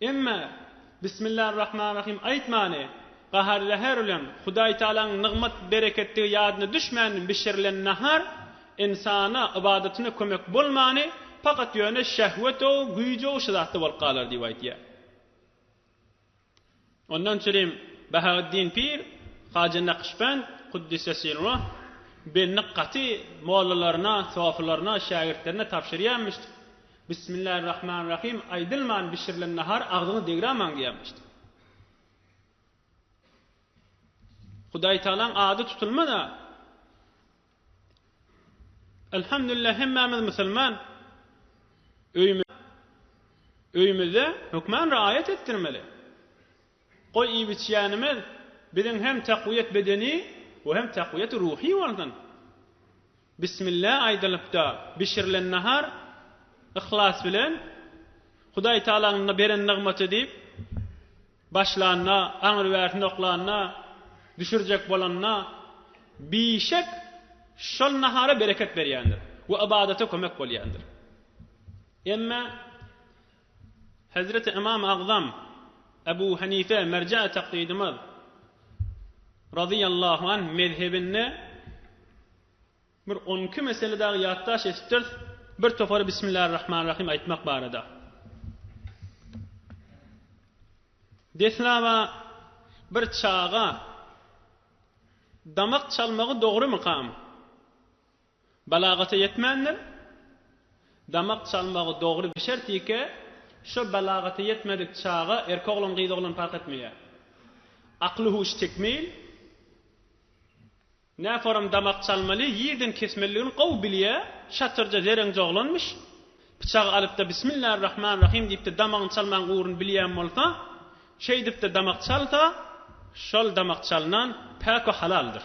Emma Bismillarrahmanrahim aýtmany, gahar-zäher bilen Hudaýtagalaň nygmat-bereketdigi ýadyna düşmän bişirilen nahar ynsana ybadatyna kömek bolmany, pakat ýöne şähwet-ow, güýj-ow şu zatda bolup galar diýip aýtýar. Ondan çürim Bahaweddin pir, Haja Nakşbend, Kuddisesirruh, belini gaty mollalaryna, sofylaryna, şägirtlerine tabşyrýarmyş. Bismillah Rahman Rahim aýdylman bişirilen nahar agzyňy degramaň diýermişdi. Hudaýtagalaň ady tutulmada. Elhamdülillah hemmämiz musulman. Öýme öýümizde hökman raýat etdirmeli. Goý iýip-içýänimiz biziň hem takwiýet bedeni we hem takwiýet ruhy bolsun. Bismilla aýdylypda bişirilen nahar yhlas bilen Hudaý Taalaňyň beren nygmaty diýip başlanda, aňry bärsini oklanda, düşürjek bolanda bişek şol nahara bereket berýändir we ybadata kömek bolýandyr. Emma Hezreti Ymam Agzam Ebu Hanife merjaý taklidimiz razyýallahu anh mezhebinde bir on iki mesele dagy ýatdaş etipdiris, bir topary Bismillarrahmanrahym aýtmak barada. Deslaba bir çaga damak çalmagy dogrumykam? Balagata ýetmändir. Damak çalmagy dogry bir şert ýeke şo balagata ýetmedik çaga erkek oglan gyz oglan park etmeýär. Akly huşy tekmil. Näforam damak çalmaly ýerden kesmeliligini gowy bilýär. Şatyrja zereňje oglanmyş. Pyçagy alypda Bismillarrahmanrahym diýipde damagyny çalmagyň ugruny bilýän bolsa şeýdipde damak çalsa şol damak çalnan päk we halaldyr.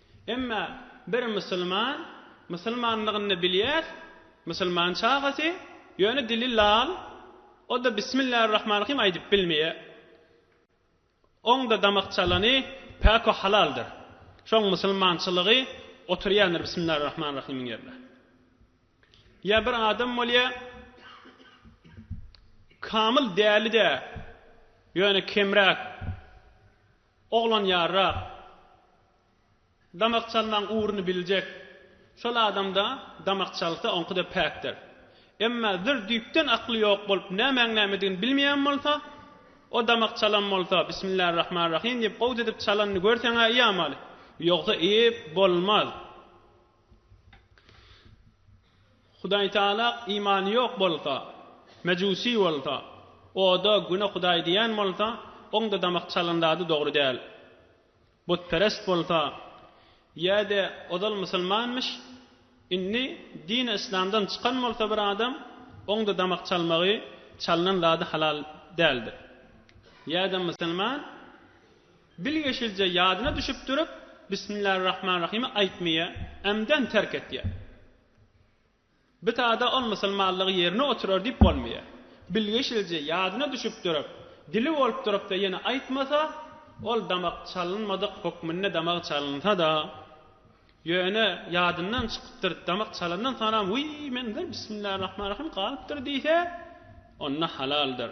Emma bir musulman, musulmanlygyny bilýär, musulman çagasy, ýöne dili lal, o-da Bismillarrahmanrahym aýdyp bilmeýär. Oň-da damak çalany päk we halaldyr. Şoň musulmançylygy oturýandyr Bismillarrahmanrahymyň ýerine. Ýa bir adam bolýar, kamyl däli-de, ýöne kemräk. Oglan ýarrak, damak çalmaň ugruny biljek. Şol adamda damak çalsa, oňkuda päkdir. Emma zir düýpden akly ýok bolup, nämäň nämedigini bilmeýän bolsa, o damak çalan bolsa, Bismillarrahmanrahym diýip, owz edip çalanyny görseň-ä iýamaly. Ýogsa iýip bolmaz. Hudaý Taala imany ýok bolsa, mejusi bolsa, oda, güne hudaý diýen bolsa, oň-da damak çalan zady dogry däl. Butperest bolsa, ýa-de ozal musulmanmyş, indi dini yslamdan çykan bolsa bir adam, oň-da damak çalmagy, çalnan zady halal däldir. Ýa-da musulman. Bilgeşilje ýadyna düşüp durup, Bismillarrahmanrahimi aýtmaýa, ämden terk etýä. Bta-da ol musulmanlygy ýerine oturar diýip bolmaýa. Bilgeşilje ýadyna düşüp durup, dili bolup durup-da ýene aýtmasa, ol damak çalynmadyk hökmünde damagy çalynsa-da, ýöne ýadyndan çykypdyr, damak çalandan soňram, Wiý, mende Bismillarrahmanrahim galypdyr diýse, onda halaldyr.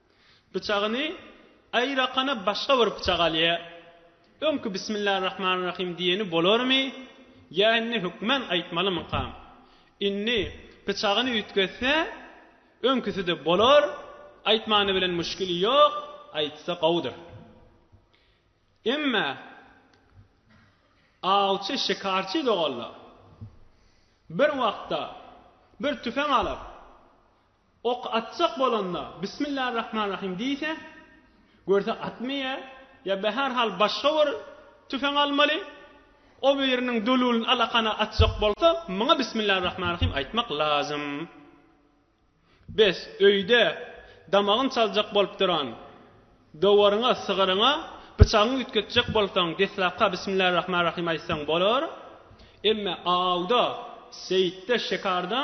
Pyçagyny aýrakana başga bir pyçak alýa. Öňki Bismillarrahmanrahim diýeni bolarmy ýa indi hökman aýtmalymykam? Indi pyçagyny üýtgetse, öňküsi-de bolar, aýtmany bilen müşgili ýok, aýtsa gowudyr. Emma awçy şikarçy doganlar bir wagtda bir tüfeň alyp, Ok atjak bolanda Bismillarrahmanrahim diýse, görse atmaýar, ýa be her hal başga bir tüfeň almaly, o biriniň dululyn alakana atjak bolsa, muňa Bismillarrahmanrahim aýtmak lazym. Bes, öýde damagyn çaljak bolup duran dowaryňa, sygyryňa pyçagyňy üýtgetjek bolsaň, deslapka Bismillarrahmanrahim aýtsaň bolar, emme awda, seýitde, şekarda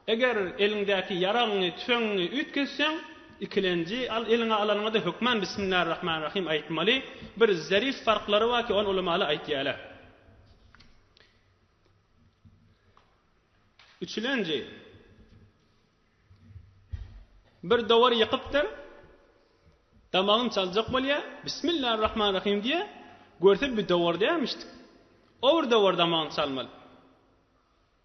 Eger eliňdäki ýaragyňy, tüfeňiňi üýtgetseň, ikilenji al, eliňe alanyňda hökman Bismillarrahmanrrahym aýtmaly. Bir zerif farklary bar ki, ony ulamaly aýtýarlar. Üçülenji, bir dowar ýykypdyr, damagyny çaljak bolýar, Bismillarrahmanrrahym diýýär, görse bir dowar dälmişdik. O bir dowar damagyny çalmaly.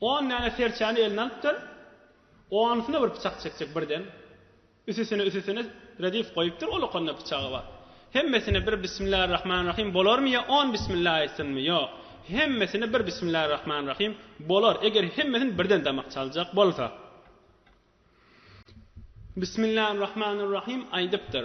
On däne serçäni eline alypdyr. Onusyna bir pyçak çekjek birden. Üsüsine üsüsine redif goýupdyr, olakonda pyçagy bar. Hemmesine bir Bismillarrahmanrahim bolarmy ýa on Bismilla aýtsynmy? Ýok. Hemmesine bir Bismillarrahmanrahim bolar, eger hemmesini birden damak çaljak bolsa. Bismillarrahmanrahim aýdypdyr.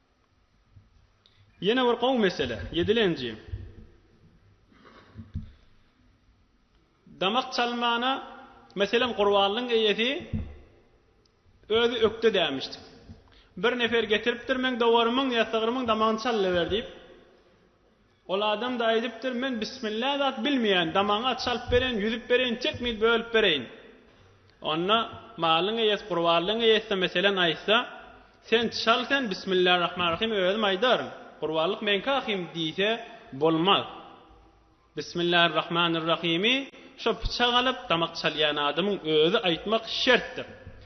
Ýene bir gowy mesele, ýedilenji. Damak çalmana, meselem, gurbanlygyň eýesi özi ökde dämişdi. Bir nefer getiripdir, meň dowarymyň ýa sygrymyň damagyny çalyber diýip. Ol adam-da aýdypdyr, Men bismillä zat bilmeýän, damagyňy aç alyp bereýin, ýüzüp bereýin, çekmit bölüp bereýin. Onda malyň eýesi, gurbanlygyň eýesi-de meselem aýtsa, Sen çal sen, bismillä rahman rahym özüm aýdaryn, gurbanlyk meňki ahym diýse bolmaz. Bismillah rahman rahimi şo pyçak alyp damak çalýan adamyň özi aýtmak şertdir.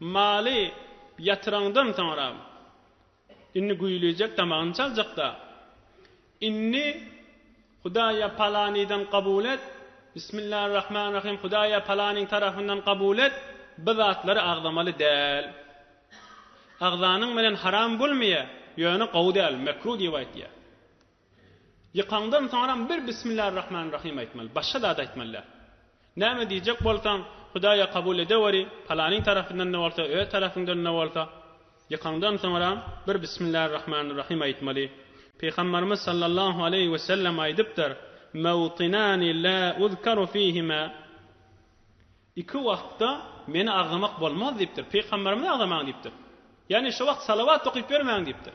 Maly ýatyraňdan soňra, indi güýlejek damagyny çaljakda, indi Hudaýa palanydan kabul et, Bismillarrahmanrahym, Hudaýa palanyň tarapyndan kabul et, bu zatlary agzamaly däl. Agzanyň bilen haram bolmaýar, ýöne gowy däl, mekru diýip aýtýar. Ýykandan soňram bir Bismillarrahmanrahym aýtmaly, başga zat aýtmaly däl. Näme diýjek bolsaň, Hudaýa kabul edeweri, palanyň tarapyndan-da bolsa, öz tarapyňdan-da bolsa, ýykandan soňram bir Bismillarrahmanrahym aýtmaly. Pygambarymyz sallallahu aleýhi we sellem aýdypdyr, Mawtinani la uzkaru fihima, Iki wagtda meni agzamak bolmaz diýipdir, pygambarymyzy agzamaň diýipdir. Ýagny şo wagt salawat okyp ýörmäň diýipdir.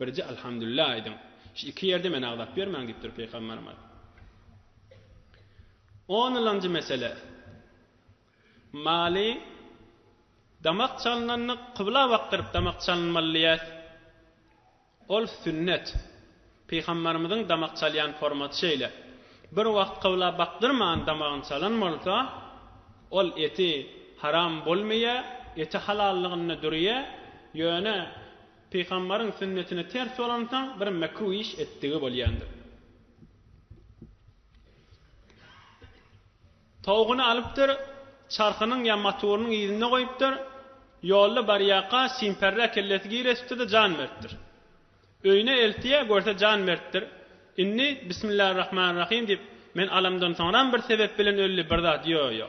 Birje Alhamdulillah aýdyň. Şu iki ýerde meni agzap ýörmäň diýipdir Pygamberimiz. On ylanjy mesele. Maly damak çalynanda kybla bakdyryp damak çalynmaly diýýäs. Ol sünnet. Pygamberimiziň damak çalýan formaty şeýle. Bir wagt kybla bakdyrman damagyny çalan bolsa, ol eti haram bolmaýar, eti halallygynda durýar, ýöne Pygamberiň sünnetine ters bolansoň bir mekruh iş etdigi bolýandyr. Towugyny alypdyr, çarhynyň ýa maturynyň yzynda goýupdyr, ýolda barýaka simpärrä kellesi giresipdir-de jan beripdir. Öýüne eltýä, görse jan beripdir. Indi Bismillarrahmanrahim diýip, men alamdan soňram bir sebep bilen ölli bir zat ýo-ýo.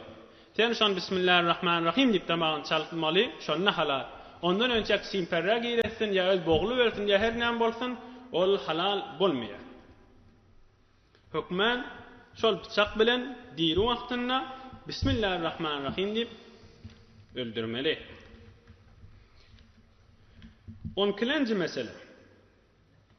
Sen şon Bismillarrahmanrahim diýip damagyny çaltmaly, şonda halal. Ondan önçäk çimperrä giresin ýa öz bogly ölsün ýa her näme bolsun, ol halal bolmaýar. Hökman şol pyçak bilen diri wagtynda Bismillarrahmanrahim diýip öldürmeli. On ikilenji mesele.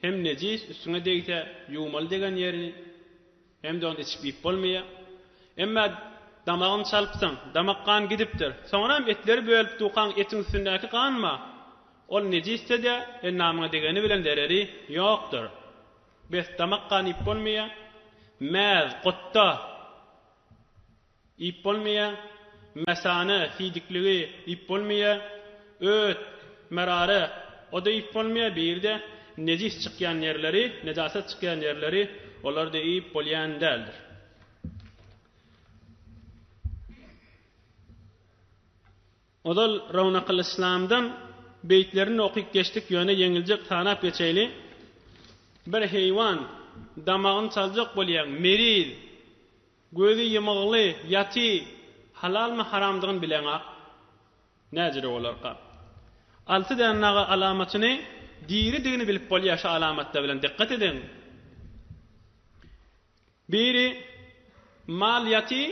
Hem nejis üstüňe degse ýuwmaly degen ýerini, hem-de ony içip iýip bolmaýa. Emma damagyny çalypsyň, damak gan gidipdir. Soňram etleri bölüp dukaň etiň üstündäki ganma, ol nejisde-de endamyňa degeni bilen zereri ýokdur. Bes damak gan iýip bolmaýa. Mäz, gotda. Iýip bolmaýa, Mesane, siýdikligi, iýip bolmaýa, Öt, merare, o-da iýip bolmaýa, bir-de, nejis çykýan ýerleri, nejasat çykýan ýerleri, olar-da iýip bolýan däldir. Ozal Rownakylyslamdan beýtlerini okyp geçdik, ýöne ýeňiljek sanap geçeýli. Bir heýwan, damagyny çaljak bolýaň, meriz. Gözi ýymygly ýaty halalmy haramdygyny bileňak näjere bolarka. Alty däne naga alamatyny diridigini bilip bolýar şu alamatlar bilen dykgat ediň. Biri mal ýaty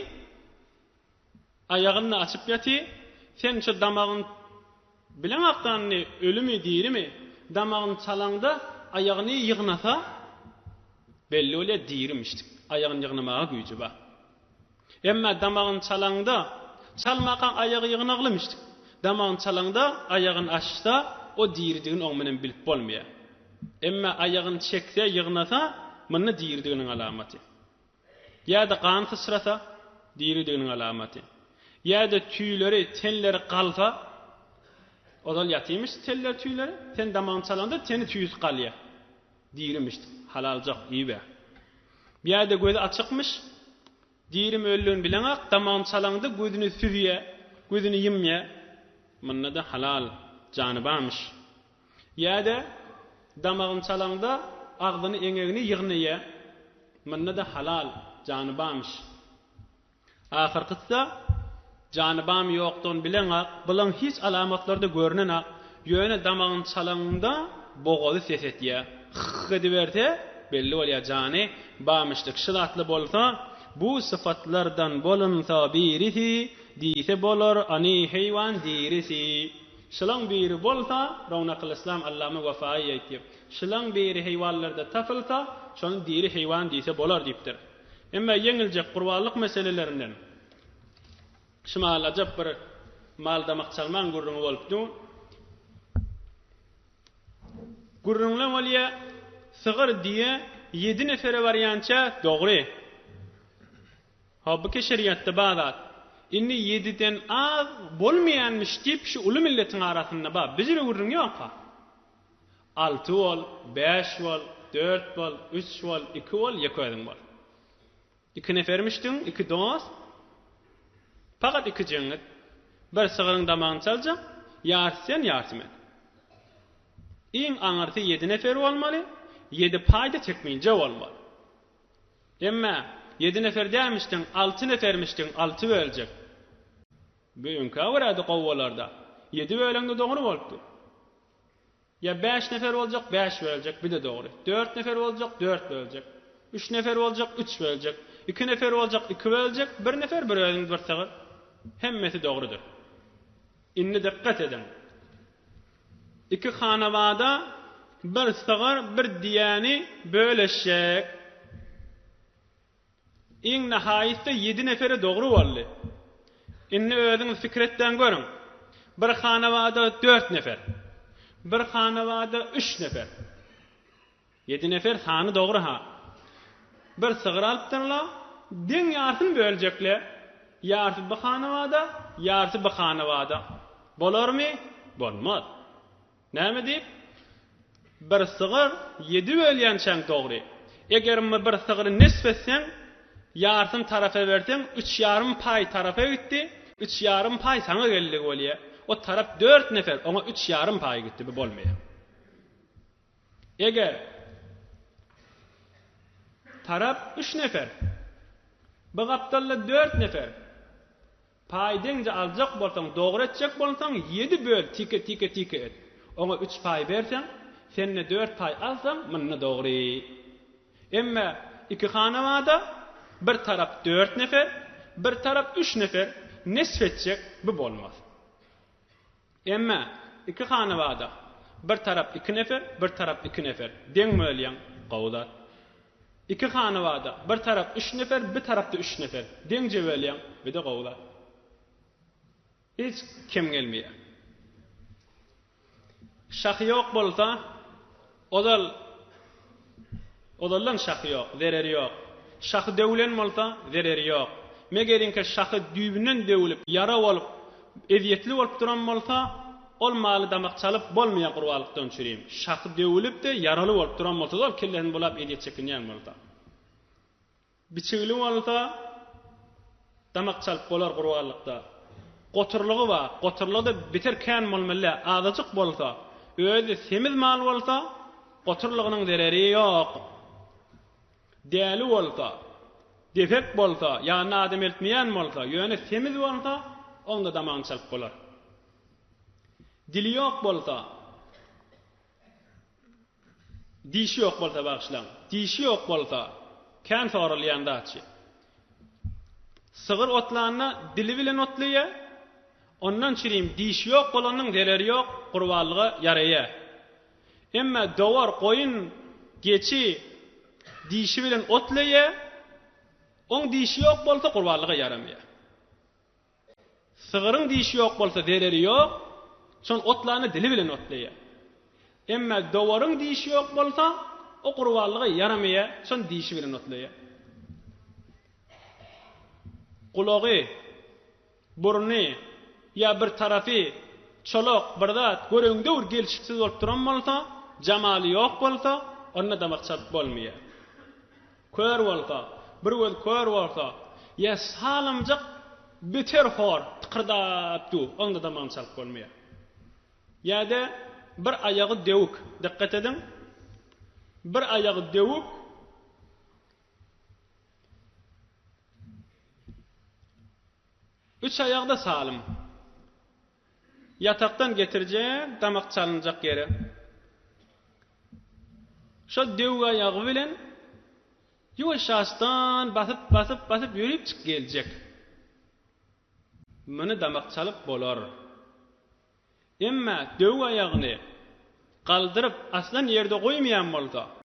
Aýagyny açyp ýaty, sen şo damagyň bileň akdanyny ölümi dirimi, damagyny çalaňda aýagyny ýygnasa belli bolýa dirimişdik, aýagyny ýygnamaga güýji bar. Emma damagyny çalaňda, çalmakaň aýagy ýygnaglymişdik, damagyny çalaňda aýagyny açsa o diridigini oň bilen bilip bolmaýa. Emma aýagyny çekse ýygnasa, munda diridiginiň alamaty. Ýa-da gan syçrasa, diridiginiň alamaty. Ýa-da tüýleri, tenleri galsa, ozal ýatymyş teller-tüýleri, sen damagyny çalanda teni tüýs galýar. Dirimiş, halaljak, iýibä. Ýa-da gözi açykmyş, dirimi ölüdigini bileňak, damagyny çalaňda gözüni süzýär, gözüni ýymýar. Munda-da halal, jany barmyş. Ýa-da damagyny çalaňda agzyny eňegini ýygnaýa. Munda-da halal jany bamyş. Ahyrkysy-da jany bamy ýokdan bileňak, bylaň hiç alamatlary-da görnenak, ýöne damagyny çalaňda bogazy ses etýä. Hyh-hyh ediberse, belli bolýa jany bamyşdyk. Şu zatly bolsa, bu sypatlardan bolunsa birisi diýse bolar, any heýwan dirisi. Şulaň biri bolsa, Rownakylyslam allama Wafaýy aýtýar, Şulaň biri heýwanlarda tapylsa, şony diri heýwan diýse bolar diýipdir. Emma ýeňiljek gurbanlyk meselelerinden şumal ajap bir mal damak çalmaň gürrüňi bolup dur. Gürrüňler bolýa, sygyr, düýe ýedi nefere barýança dogry. Hawa bu keşerýatda bar zat. Indi ýediden az bolmaýanmyş diýip şu uly milletiň arasynda bar. Büjre gürrüň ýok-a. Alty bol, bäş bol, dört bol, üç bol, iki bol, ýeke özüň bol. Iki nefermişdiň, iki dost. Pagat iki jeňňit. Bir sygyryň damagyny çaljak, ýarysy sen, ýarysy men. Iň aňyrsy ýedi nefer bolmaly, ýedi paýda tekminje bolmaly. Emma, ýedi nefer dälmişdiň, alty nefermişdiň, alty böljek. Bu öňkä görä-de gowy bolardy. Ýedi böleňde dogry bolupdy. Ýa bäş nefer boljak, bäş böljek, bi-de dogry. Dört nefer boljak, dört böljek. Üç nefer boljak, üç böljek. Iki nefer boljak, iki böljek. Bir nefer, bir özüňiz bir sygyr. Hemmesi dogrudyr. Indi dykgat ediň. Iki hanabada bir sygyr, bir diýäni böleşjek. Iň nahaýysda ýedi neferi dogry boldy. Indi özüňiz pikir etdäň görüň. Bir hanabada dört nefer. Bir hanabada üç nefer. Ýedi nefer sany dogry-ha. Bir sygyr alypdyrlar, deň ýarysyny böljekler. Ýarysy bu hanabada, ýarysy bu hanabada. Bolarmy? Bolmaz. Näme diýip? Bir sygyr ýedi bölýänçäň dogry. Eger my bir sygry nesp etseň, ýarysyny tarapa berseň, üç ýarym paý tarapa gitdi, üç ýarym paý saňa geldigi bolýar. O tarap dört nefer, oňa üç ýarym paý gitdi. Bu bolmaýar. Eger tarap üç nefer, bu gapdalda dört nefer paý deňje aljak bolsaň, dogry etjek bolsaň, ýedi böl, tike, tike, tike et. Oňa üç paý berseň, sen-de dört paý alsaň, munda dogry. Emme iki hanawada bir tarap dört nefer, bir tarap üç nefer nesp etjek, bu bolmaz. Emme, iki hanabada, bir tarap iki nefer, bir tarap iki nefer, deň bölýäň, gowy zat. Iki hanabada, bir tarap üç nefer, bir tarapda üç nefer, deňje bölýäň, bir-de gowy zat. Hiç kem gelmeýär. Şahy ýok bolsa. Ozal Ozaldan şahy ýok, zereri ýok. Şahy döwülen bolsa, zereri ýok. Megeriňkä şahy düýbünden döwülip, ýara bolup, ezýetli bolup duran bolsa, ol maly damak çalyp bolmaýar gurbalykdan çürim. Şahy döwülip-de, ýaraly bolup duran bolsa-da, ol kellesini bulap ezýet çekinýän bolsa. Biçigli bolsa, damak çalyp bolar gurbanlykda. Goturlygy bar, goturlygy-da beter kän bolmaly däl, azajyk bolsa, özi semiz mal bolsa, goturlygynyň zereri ýok. Däli bolsa, depek bolsa, ýanyna adam eltmeýän bolsa, ýöne semiz bolsa, oň-da damagyny çalyp bolar. Dili ýok bolsa. Dişi ýok bolsa bagyşlaň. Dişi ýok bolsa, kän soralýan zatçy. Sygyr otlanda dili bilen otlaýa. Ondan çirim dişi ýok bolanyň zereri ýok, gurbanlyga ýaraýa. Emma dowar, goýun, geçi dişi bilen otlaýa. Oň dişi ýok bolsa gurbanlyga ýaramaýa. Sygyryň dişi ýok bolsa zereri ýok, şol otlany dili bilen otlaýar. Emma dowaryň dişi ýok bolsa, o gurbanlyga ýaramaýar, şony dişi bilen otlaýar. Gulagy, burny ýa bir tarapy çolak bir zat gören döwür gelşiksiz bolup duran bolsa, jamaly ýok bolsa, onda damak çalyp bolmaýar. Kör bolsa, bir göz kör bolsa, ýa salymjyk biter hor tykyrdap dur, onda damagyny çalyp bolmaýar. Ýa-da bir aýagy döwük, dykgat ediň, bir aýagy döwük, üç aýagy-da salym. Ýatakdan getirjek damak çalynjak ýere şol döw aýagy bilen ýuwaş-ýaşdan basyp, basyp, basyp ýörüpjik geljek. Muny damak çalyp bolar. Emma döw aýagyny galdyryp aslan ýerde goýmaýan bolsa.